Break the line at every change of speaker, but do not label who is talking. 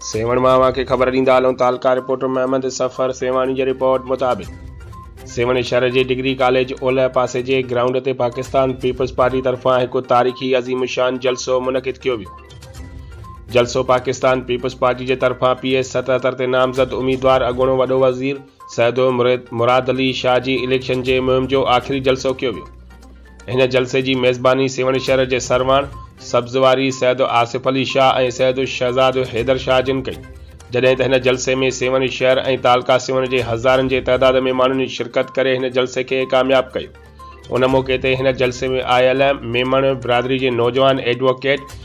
سيوهڻ مان اوهان کي خبر ڏيندا هلون تعلقه رپورٽر محمد صفر سيوهاڻي جي رپورٽ مطابق سيوهڻ شهر جي ڊگري ڪاليج اولهه پاسي جي گرائونڊ تي پاڪستان پيپلز پارٽي طرفان هڪ تاريخي عظيم الشان جلسو منعقد ڪيو ويو جلسو پاڪستان پيپلز پارٽي جي طرفان پي ايس ستهتر تي نامزد اميدوار اڳوڻو وڏو وزير سيدو مراد علي شاهه جي اليڪشن جي مهم جو آخري جلسو ڪيو ويو هن جلسي جي ميزباني سيوهڻ شهر جي سرواڻ، سبز واري، سيد آصف علي شاهه ۽ سيد شهزاد حيدر شاهه جن ڪئي، جڏهن ته هن جلسي ۾ سيوهڻ شهر ۽ تعلقه سيوهڻ جي هزارن جي تعداد ۾ ماڻهن شرڪت ڪري هن جلسي کي ڪامياب ڪيو. ان موقعي تي هن جلسي ۾ آيل ميمڻ برادري جي نوجوان ايڊووڪيٽ،